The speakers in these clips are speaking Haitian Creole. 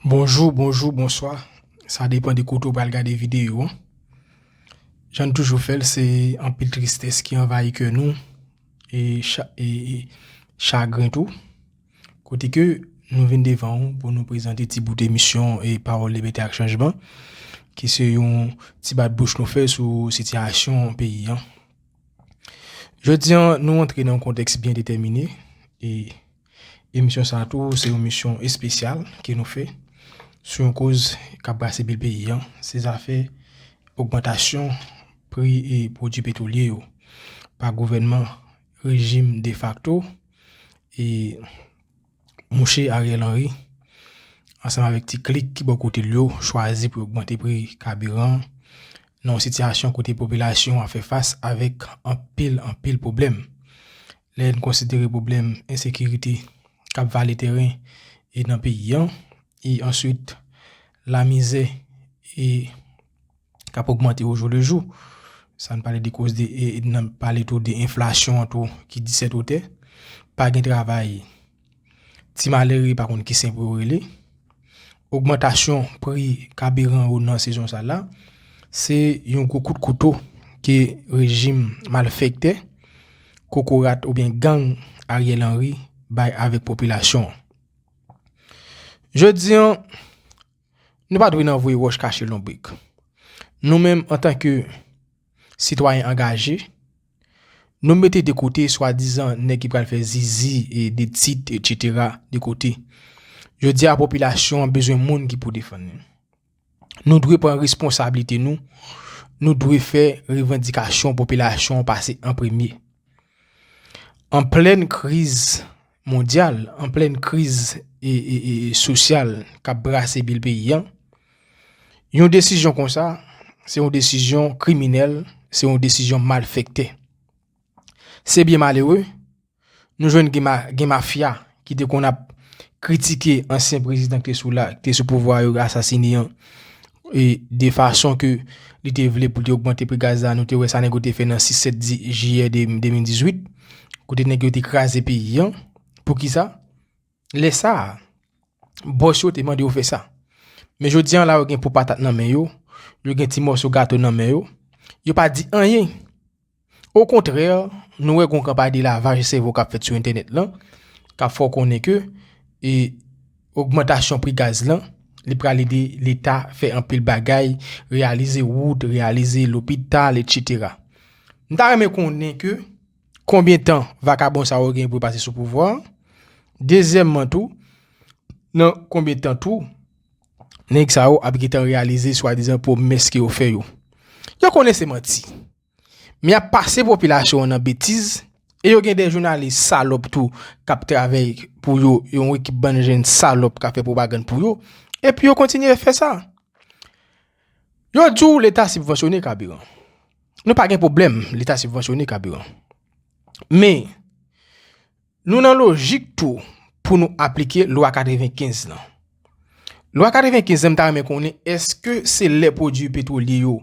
Bonjou, bonjou, bonswa, sa depan de kote ou pral gade videyo an. Jan n toujou fè l, se anpil tristès ki anvayi kè nou e chagren tou. Kote ke nou vin devan ou pou nou prezante ti bout emisyon e Pawòl Libète ak Chanjman ki se yon ti bat bouch nou fè sou sitiyasyon peyi an. Jodi an nou antre nan yon kontèks byen detèmine e emisyon sa tou se yon emisyon espesyal ke nou fè sou yon koz k ap brase bil peyi an, se zafè ogmantasyon pri e pwodui petwolye yo pa gouvènman. rejim defakto e mouche Ariel Henry ansanm avèk ti klik ki bò kote l yo chwazi pou yo ogmante pri kabiran an nan yon sitiyasyon kote popilasyon ap fè fas avèk anpil anpil pwoblèm. Lè n konsidere pwoblèm ensekirite k ap vale tèren e nan peyi an e answit lamizè e. k ap ogmante ojou le jou. San pale de koz de, nan pale tou de enflasyon an tou ki disèt wotè. Pa gen travay, ti malere pa konn ki sen pou yo rele. Ogmantasyon pri kabiran yo nan sezon sa la, se yon gwo kout kouto ke rejim malfèktè, kokorat oubyen gang Ariel Henry bay avèk popilasyon an. Jodi an, Nou pa dwe nan voye wòch kache lonbrik. Nou menm antanke sitwayen angaje, nou mete de kote swadizan nèg ki pral fè zizi e de tit etc de kote. Jodi a popilasyon an bezwen moun ki pou defann li. Nou dwe pran responsablite nou, nou dwe fè revandikasyon popilasyon an pase an premye. An plèn kriz. mondyal an plèn kriz sosyal k ap brase bil peyi an, yon desizyon konsa se yon desizyon kriminèl, se yon desizyon malfèktè. Se byen malere, nou jwenn gen mafya ki te konn ap kritike ansyen prezidan k te sou pouvwa yo asasine an. e de fason ke li te vle pou l te ogmante pri gaz la, nou te wè sa nèg yo te fè nan 6, 7 jiyè 2018, kote nèg yo te kraze peyi an, pou ki sa? Lè sa a, bòs yo te mande yo fè sa. Men jodi an la yo gen po patat nan men yo, yo gen ti mòso gato nan men yo, yo pa di anyen. Okontrè, nou wè gon kanpay delavaj sèvo k ap fèt sou entènèt lan, k ap fè w konnen ke ogmantasyon pri gaz lan, li pral ede leta fè anpil bagay, reyalize wout, reyalize lopital, etsetera. M ta renmen konnen ke konbyen tan vakabon sa yo gen pou yo pase sou pouvwa an? Dezyèmman tou, nan konbyen tan tou nèg sa yo ap gen tan reyalize swadizan pwomès ke yo fè yo? Yo konnen se manti. Men yap pase popilasyon an nan betiz e yo gen de jounalis salòp tou kap travèy pou yo, yon ekip bann jèn salòp kap fè pwopagann pou yo epi yo kontinye fè sa. Yo di w leta sibvansyone kabiran. Nou pa gen pwoblèm leta sibvansyone kabiran men, Nou nan lojik tou pou nou aplike lwa 95 lan. Lwa 95 lan m ta renmen konnen eske se lè pwodui petwolye yo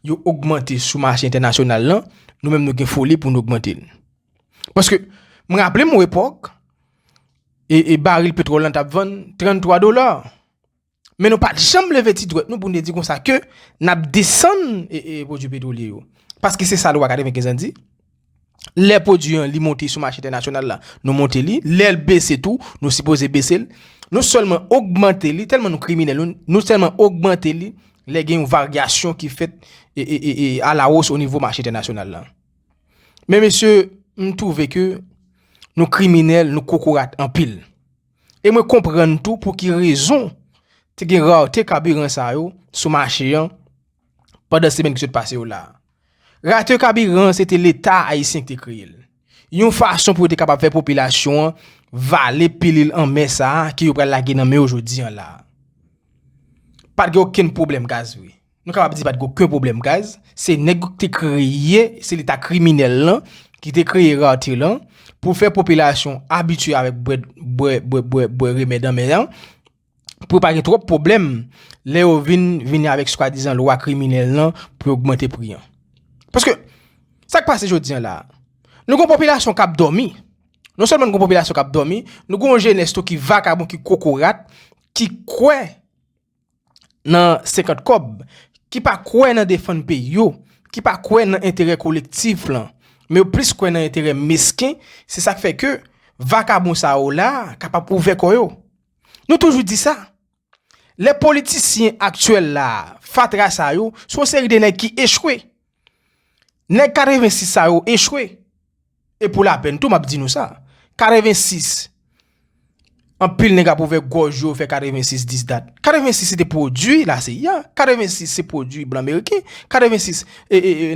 yo ogmante sou mache entènasyonal lan nou menm nou gen foli pou nou ogmante l. Paske m raple m ou epòk e baril petwòl lan t ap vann 33 dola. Men nou pat janm leve ti dwèt nou pou nou te di konsa ke n ap desann pwodui petwolye yo. Paske se sa lwa 95 an di, lè pwodui an li monte sou mache entènasyonal la, nou monte li, lè l bese tou, nou sipoze bese l. Nou sèlman ogmante li, tèlman nou kriminèl, nou sèlman ogmante li lè gen yon varyasyon ki fèt a la wos o nivo mache entènasyonal la. Men mesye, m twouve ke nou kriminèl, nou kokorat anpil. e mwen konprann tou pou ki rezon te gen rarte kabiran sa yo sou mache an pandan semenn ki sot pase yo la. Rate kabiran an se te leta ayisyen ki te kreye l, yon fason pou yo te kapab fè popilasyon an vale pilil anmè sa a ke yo pral lage nan men yo jodi an la. Pa t gen okenn pwoblèm gaz vre. Nou kapab di pat gen oken pwoblèm gaz, se nèg ki te kreye, se leta kriminèl lan ki te kreye rate lan pou fè popilasyon abitye avèk bwè remèd anmè an pou pa gen twòp pwoblèm lè yo vin vini avèk swadizan lwa kriminèl lan pou yo ogmante pri an. Paske, sa k pase jodi an la a? Nou gen yon popilasyon k ap dòmi, non sèlman nou gen yon popilasyon k ap dòmi, nou gen yon jenès tou ki vakabon, ki kokorat, ki kwè. nan 50 kòb, ki pa kwè nan defann peyi yo, ki pa kwè nan enterè kolektif lan, men yo plis kwè nan enterè mesken, se sa k fè ke vakabon sa yo la a kapab ouvè kò yo. Nou toujou di sa, lè politisyen aktyèl la a, fatra sa yo, se yon seri de nèg ki echwe. Nèg 86 sa yo echwe. E pou lapenn tou map di nou sa, 86, anpil nèg ap ouvè gòj yo fè 86 dis dat. 86 se te pwodui la CIA, 86 se pwodui blan meriken, 86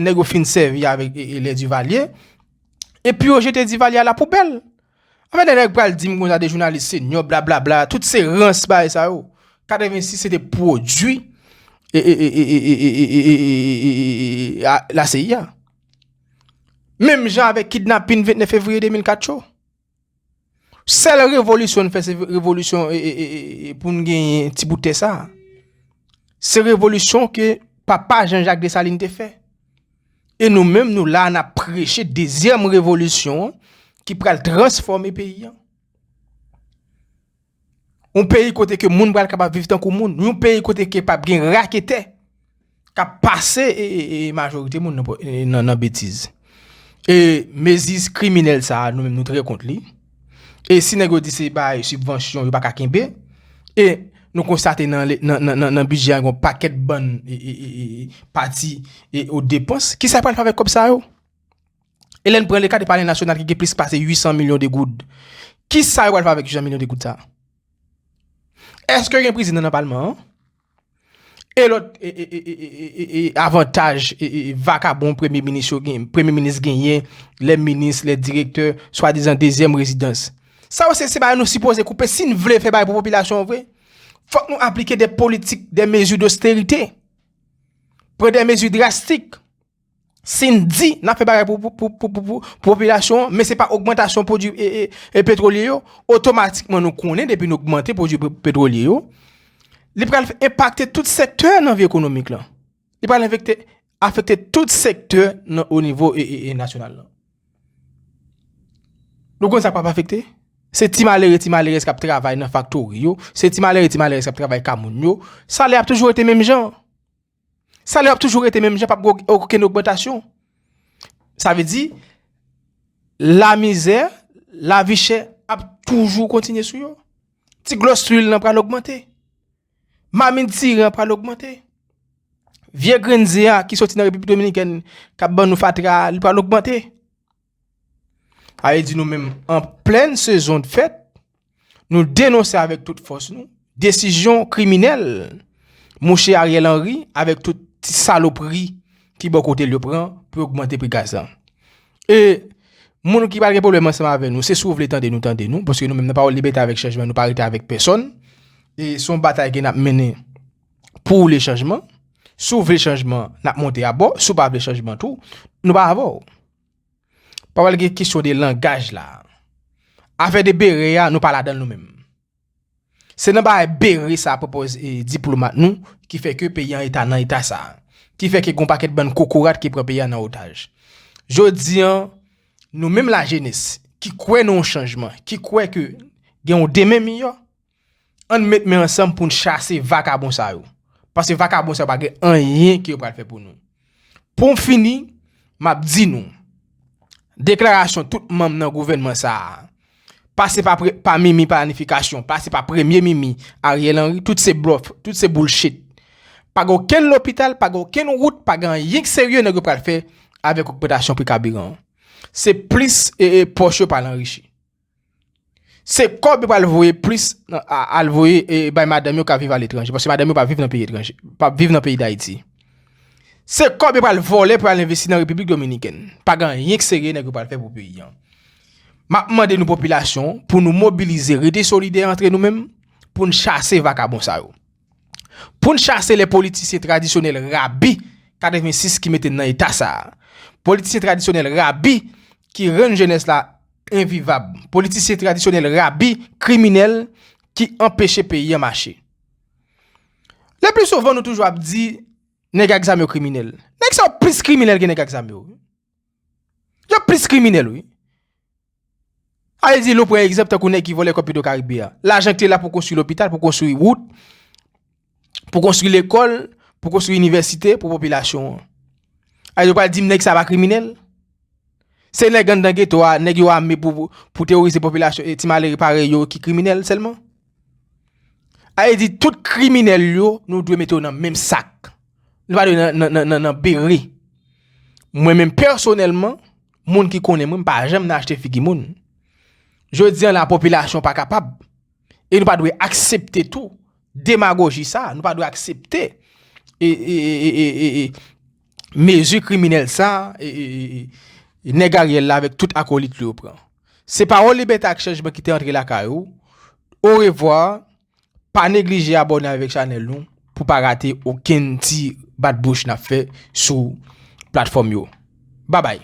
nèg yo fin sèvi avèk lè Divalye, epi yo jete Divalye a la poubèl. Anfen lè nèg pral di m konsa de jounalis senyo bla bla bla, tout se rans bagay sa yo. 86 se te pwodui la CIA. Menm jan avèk kidnapin 29 fevriye 2004 yo, sèl revolisyon n fè se revolisyon pou n gen yon ti bout tè sa. Se revolisyon ke papa Jean Jacques Dessalines te fè. E nou menm nou la an ap preche dezyèm revolisyon ki pral transfòme peyi an. Yon peyi kote ke moun pral kapab viv tankou moun. Yon peyi kote ke pap gen raketè k ap pase majorite moun nan betiz. E meziz kriminèl sa a nou menm nou trè kont li. E si nèg yo di se bay sibvansyon yo pa ka kenbe. E nou konstate nan bidjè an gen yon pakèt bann pati e ou depans. Kisa pral fè avèk kòb sa yo? E lè n pran le ka de pale nasyonal ki gen plis pase 800 milyon de goud, ki sa yo pral fè avèk 800 milyon de goud sa a? Eske gen prezidan nan palman an? E lòt avantaj vakabon premye minis yo gen, premye minis genyen, lè minis, lè direktè, swa dizan dezyèm rezidans. Sa yo se bagay nou sipoze koupe si n vle fè bagay pou popilasyon an vre. Fòk nou aplike de politik, de mezi dosterite. Pran de mezi drastik. Si n di n ap fè bagay pou popilasyon an, men se pa ogmantasyon pwodui petwolye yo, otomatikman nou konnen depi n ogmante pwodui petwolye yo, li pral enpakte tout sektè nan vi ekonomik lan. Li pral afekte tout sektè nan o nivo e nasyonal lan. Nou konn sa k pa p afekte? Se ti malere, ti malerèz k ap travay nan faktori yo, se ti malere, ti malerèz k ap travay ka moun yo, salè ap toujou rete menm jan. Salè yo ap toujou rete menm jan pap gen okenn ogmantasyon. Sa vle di, la mizè, la vi chè ap toujou kontinye sou yo. Ti glos lwil nan pral ogmante. Mamit diren pral ogmante. Vye grenn ze a ki soti nan Repiblik Dominikèn kap ban nou fatra a li pral ogmante. Sa vle di nou menm an plen sezon de fèt, nou denonse avèk tout fòs nou, desizyon kriminèl mouche Ariel Henry avèk tout ti salopri ki bò kote l yo pran pou yo ogmante pri gaz lan. E moun ki pa gen pwoblèm ansanm avè nou, se si w vle tande nou, tande nou, paske nou menm nan pawòl libète avèk chanjman nou pa rete avèk pèsòn, e se yon batay ke n ap mennen pou le chanjman, si w vle chanjman n ap monte abò, si w pa vle chanjman tou, nou pa avè w. Pa pral gen kesyon de langaj la. Afè de bere a, nou pa ladanl nou menm. Se nan bagay bere sa pwopòz e diplomat nou ki fè ke peyi an eta nan eta sa. Ki fè ke gon pakèt bann kokorat ki pran peyi an nan otaj. Jodi an, nou menm lajenes ki kwè nan yon chanjman, ki kwè ke gen yon demen miyò. Ann met men ansanm pou n chase vakabon sa yo. Pase vakabon sa yo pa gen anyen ke yo pral fè pou nou. Pou m fini, m ap di nou, deklarasyon tout manm nan gouvènman sa a, pase pa mimi planifikasyon, pase pa premye mimi Ariel Henry, tout se blòf, tout se boulshit. Pa gen okenn lopital, pa gen okenn wout, pa gen anyen k serye nèg yo pral fè avèk ogmantasyon pri kabiran an. Se plis pòch yo pral anrichi. Se kòb yo pral voye plis al voye bay madanm yo k ap viv aletranje. Paske madanm yo pa viv nan peyi etranje, pa viv nan peyi Dayiti. Se kòb yo pral vòlè pou al envesti nan Repiblik Dominikèn. Pa gen anyen ki serye nèg yo pral fè pou peyi an. M ap mande nou popilasyon pou nou mobilize, rete solidè antre nou menm pou n chase vakabon sa yo. Poun chase lè politisyen tradisyonèl rabi 86 ki mete n nan eta sa. Politisyen tradisyonèl rabi ki rann jenès la envivab. Politisyen tradisyonèl rabi kriminèl ki anpeche peyi an mache. Le pli souvan nou toujou ap di nèg ak zam yo kriminèl. Nèg sa yo plis kriminèl ke nèg ak zam yo. Yo plis kriminèl wi. Ale di nou pran egzanp tankou nèg ki vòlè kòb petro karibe a. Lajan ki te la pou konstwi lopital, pou konstwi wout, pou konstwi lekòl, pou konstwi inivèsite pou popilasyon an. Ale yo pral di m nèg sa pa kriminèl? Se nèg anndan geto a, nèg yo ame pou teworize popilasyon e ti malere parèy yo ki kriminèl sèlman? Ayy di tout kriminèl yo nou dwe mete yo nan menm sak Nou pa dwe nan bere Mwen menm pèsonèlman moun ki konnen mwen m pa janm nan achte figi moun Jodi an la popilasyon pa kapab e nou pa dwe aksepte tou demagoji sa Nou pa dwe aksepte e e e e e e e mezi kriminèl sa a nèg Ariel la avèk tout akolit li yo pran. Se pawòl libète ak chanjman ki te antre lakay ou. Orevwa, pa neglije abòne avèk chanèl nou pou pa rate okenn ti bat bouch n ap fè sou platfòm yo. Babay!